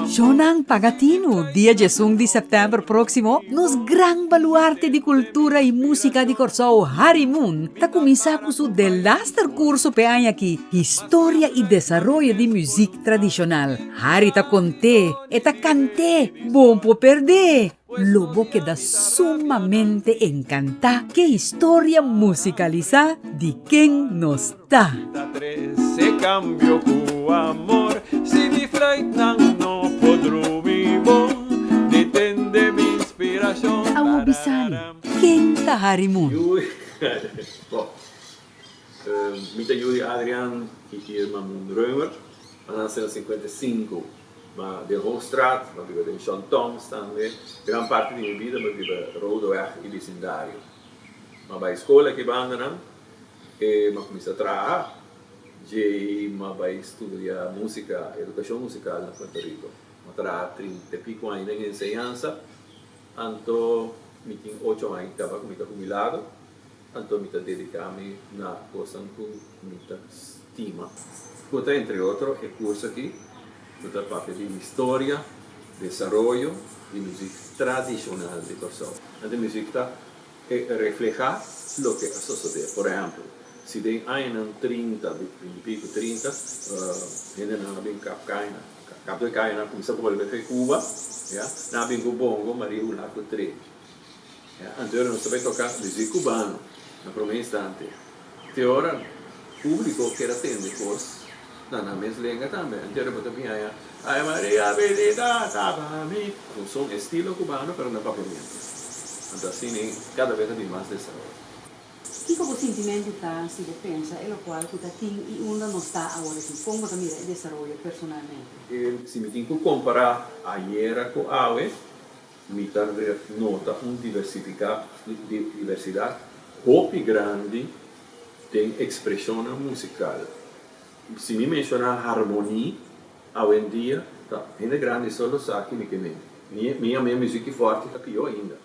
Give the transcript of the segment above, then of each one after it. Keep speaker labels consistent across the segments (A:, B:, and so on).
A: Shownan Pagatinu,
B: dia diesun di sèptèmber próksimo, nos gran baluarte di kultura i músika di Kòrsou, Harry Moon, ta kuminsá ku su delaster kurso p'e aña aki, Historia i desaroyo di muzik tradishonal. Harry ta kont'é, e ta kant'é, bon por perd'é! Lo bo keda sumamente encantá k'e historia musicalisá di Ken Nos Ta?
A: A wou bisami,
B: ken ta Harry
C: Moon? Ma den Hoogstraat, ma biba den John Thoms tambe. Gran parti di mi bida mi a biba Rodeweg y bisindario. Ma bay scola aki banda nan, e ma cuminsa traha, djey ma bay studia musica, educacion musical na Puerto Rico. Ma traha trinta y pico aña den enseñansa, anto mi tin ocho aña caba cu mi ta hubilado. Anto mi ta dediká mi na kosnan ku mi ta stima. Ku ta entre otro e kurso aki ku ta papia di historia, desaroyo di muzik tradishonal di Kòrsou. Anto muzik ta e reflehá loke a sosodé. Por ehèmpel, si den añanan trinta, binti piku trinta, hendenan a bin kap kaña, kap de kaña nan a kuminsá bolbe fe Kuba, nan a bin ku bongo, maria ulá ku tré. Anteora nos ta bai toka deci cubano na prome instante, te ora publico ker a tende cos na nan mes lenga tambe. Anteora bo ta bin haya Ay Maria bendita ta pa mi, cu son estilo cubano pero na papiamento. Anto asina cada bes a bin mas desaroyo. Kico bo
D: sintimento ta si bo pensa e locual cu ta tin y unda nos ta aworakic? Con bo ta mira e desaroyo personalmente? Si mi tin cu compara
C: ayera cu awe, Mi ta nota un diversidat hopi grandi den ekspreshonnan musikal. Si mi menshoná harmoni, awendia ta hende grandi so lo sa kini ke men. Mi a mea miziki fòrti ta pió ainda.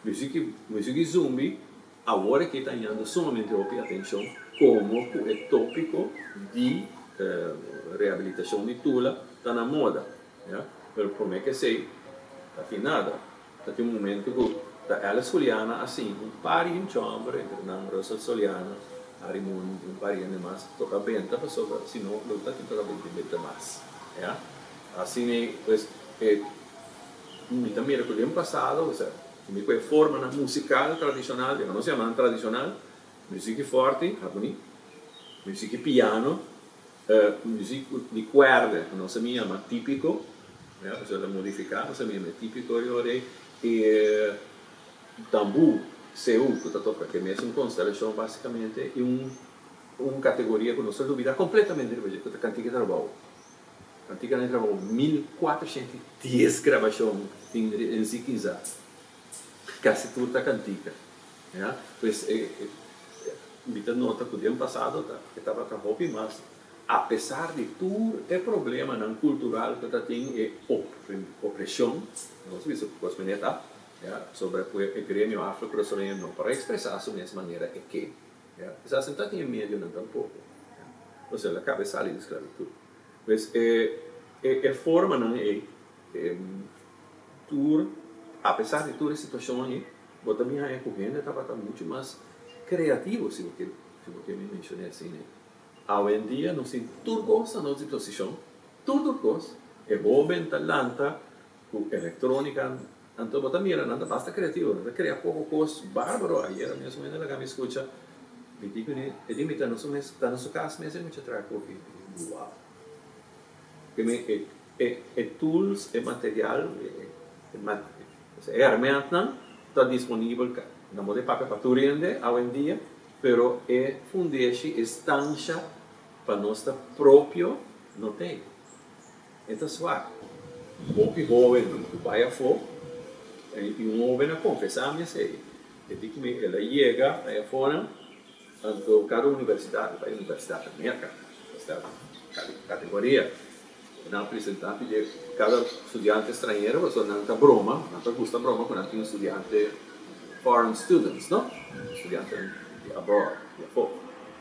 C: Miziki zumbi. Awor aki ta hañando sumamente hopi atencion como cu e topico di rehabilitacion di Tula ta na moda, ya, pero prome kesey ta tin nada. Ta tin un momento cu ta Alice Juliana asina, un par di hincha homber, entre nan Russel Soliano, Harry Moon y un par di hende mas, toca benta pasobra si no lo ta tin toca benta y benta mas, ya. Asin'ei, pues, e, mi ta mira cu den pasado, o sea. Kome ku e formanan musikal tradishonal, dja nos yamanan tradishonal, musiki fòrti, harmoní, musiki piano, musiki ku di kuèrda ku nos a bin yama típiko, ya, pasobra ta modifiká, nos a bin yama e típiko di Horei, i tambú, seú, ku ta toka ke mesun konstelashon basikamente, i un kategoria ku nos ta lubidá kompletamente riba dje, ku ta kantiga trabou. Practica e trabajo mil cuatrociento y dies grabacion tin Rinzi Kinza. Casi tur ta cantica. Ya pues mi ta nota cu den pasado ta e tabata hopi mas apesar di tur e problemanan cultural cu ta tin e opresion nos bisa cu cos manera ta ya so por e gremio afro curasoreño no por a expresa su mes manera e ke. E sa sentá den e medionan tampoko. Nos el a kabe sali di sklabitut. Pues e formanan ei, tur apesar di tur e situashon ei, bo ta bin haña ku hende tabata muchu mas kreativo, si bo kere mi menshoné asina ei. Awendia nos tin tur kos na nos disposishon, tur tur kos. E hóben ta lanta Cu electronica, anto bo ta mira nan ta basta creativo, nan ta crea poco cos barbaro, ayera mesmo hende laga mi scucha, mi di cu ne, e di mi ta na su mes, ta na su cas mes e mucha traha coffee, mi di cu wow, mi di cu e, e tools, e material, e herment nan ta disponibel ca, nan bo ta e papia pa tur hende awendia, pero e fundeshi, e stansha pa nos ta propio no t'ei. E ta swak. Hopi hóbennan ku bai afó, i un hóben a konfesá mi esei. E di ku mi el a yega na e afónan, anto kada universidat, e bai Universidat Amerika, Universidat Kali, Kategoria, ku nan a presentá pidi kada studiante estranhero, pasobra nan ta broma, nan ta gusta broma ku nan tin studiante, foreign students, no? Studiantenan di abroad, di afó.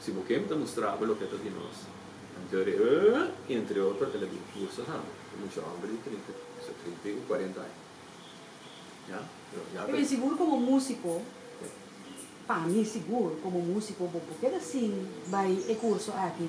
C: Si bo ken ta mustrabo loke ta di nos, nan ta re, Eeh, entre otro el a bin curso han, e mucha homber di trinta, sa trinta y u cuarenta aña. Ya, pero ya
D: ta. Eben sigur como musico, pa mi sigur como musico bo por keda sin bay e curso aki.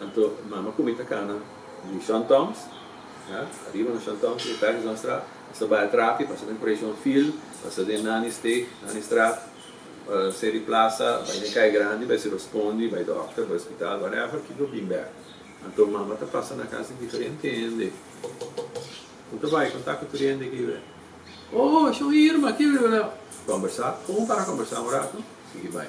C: Anto mama ku mi ta kana di Sean Toms, ya, ariba na Sean Toms y Pattinsonstraat, nos ta bai a trapi, pasa den Coration Field, pasa den Nannysteeg, Nannystraat, Seri Plaza, bai den Kei Grandi, bai Silver Spondi, bai Dokter, bai Hospitaal, whatever, ki lo bin bek. Anto mama ta pasa na kas di diferente hende. Ku ta bai konta ku tur e hende kiwe. Oh, Sean Irma, kiwe, kiwe. Kombersá, pon para kombersá un rato, sigui bai.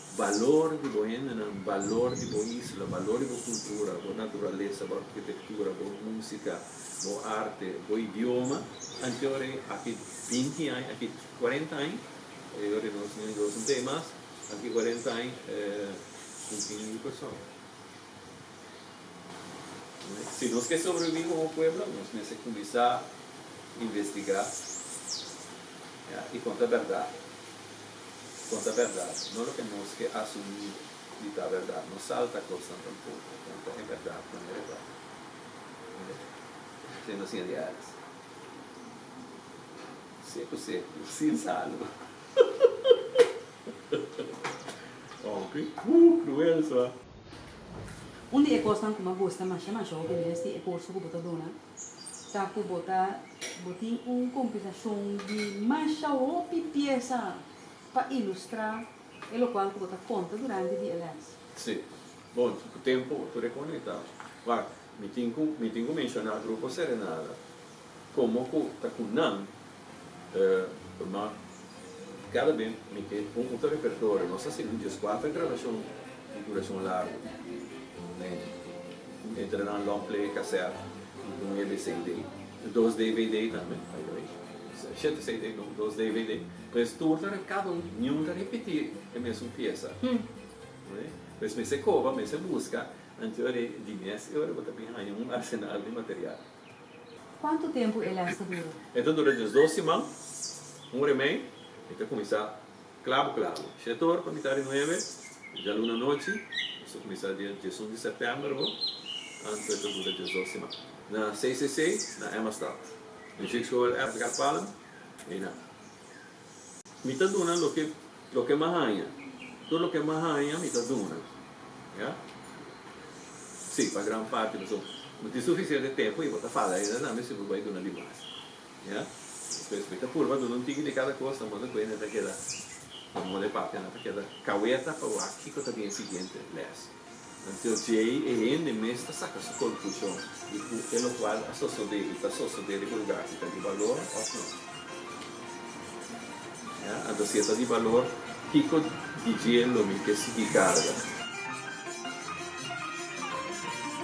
C: Balor di bo hendenan, balor di bo isla, balor di bo kultura, bo naturalesa, bo arkitektura, bo musika, bo arte, bo idioma, anto e ora aki binti aña, aki kuarenta aña, e ora nos Siñor Dios no ta ei mas, aki kuarenta aña e un tin mil persona. Si nos ke sobreviví komo pueblo, nos mester kuminsá investigá i konta bèrdat. Con ta berdad, no loke nos ke asumí di ta berdad, no salta cosnan tampoco, con ta e berdad cu no reporta. Oye, te no siente ergens. Seco seco, sin salvo. Oh, ki cruel so.
D: Un di e cosnan cu m'ha gusta masha masha hopi mes di e curso cu bo ta duna, ta ku bo ta bo tin un kompilason di masha hopi piesa pa ilustrá e lokual ku bo ta konta durante di e lès. Sí.
C: Bon, ku tempu bo ta rekoné ta, Wak, mi tin ku mi tin ku menshoná Grupo Serenada komo ku ta ku nan. ma kada be mi ke un oca repertorio nos ta sigu djes cuater grabacion di duracion largo ne entre nan long play caset y cu nuebe cd y dos dvd tambe by the way shete cd no dos dvd pues tur ta cada un niun ta repeti e mesun piesa oye pues mester coba mester busca anto di mes y ora bo ta bin haya un arsenal di material. Kuantu
D: tempu e lès ta dura? E ta dura des dos
C: siman, un ora i mei, i ta kuminsá klabu klabu shete ora pa mitá di nuebe djaluna anochi, nos ta kuminsá dia diesun di sèptèmber bo, anto e ta dura des dos siman na CCC na Emma Stad, na Jeugdschool Edgar Palm, ei nan. Mi ta duna loke loke m'a haña. Tur loke m'a haña mi ta duna. Ya? Sí, pa gran parti, paso no tin sufisiente tempu i bo ta fala ainda na mi si bo bai duna di mas. Ya? Pues mi ta purba duna un tiki di kada kos tamone ku e na ta keda tamone pape na ta keda kaweta pa wak kiko ta bin e siguiente lès. Until djei e hende mes ta saka su konklushon di ku e lokual a sosodé i ta sosodé riba lugá ki ta di balor òf no. Ya, anto si e ta di balor, kiko di dje lo mi ke sigui karga?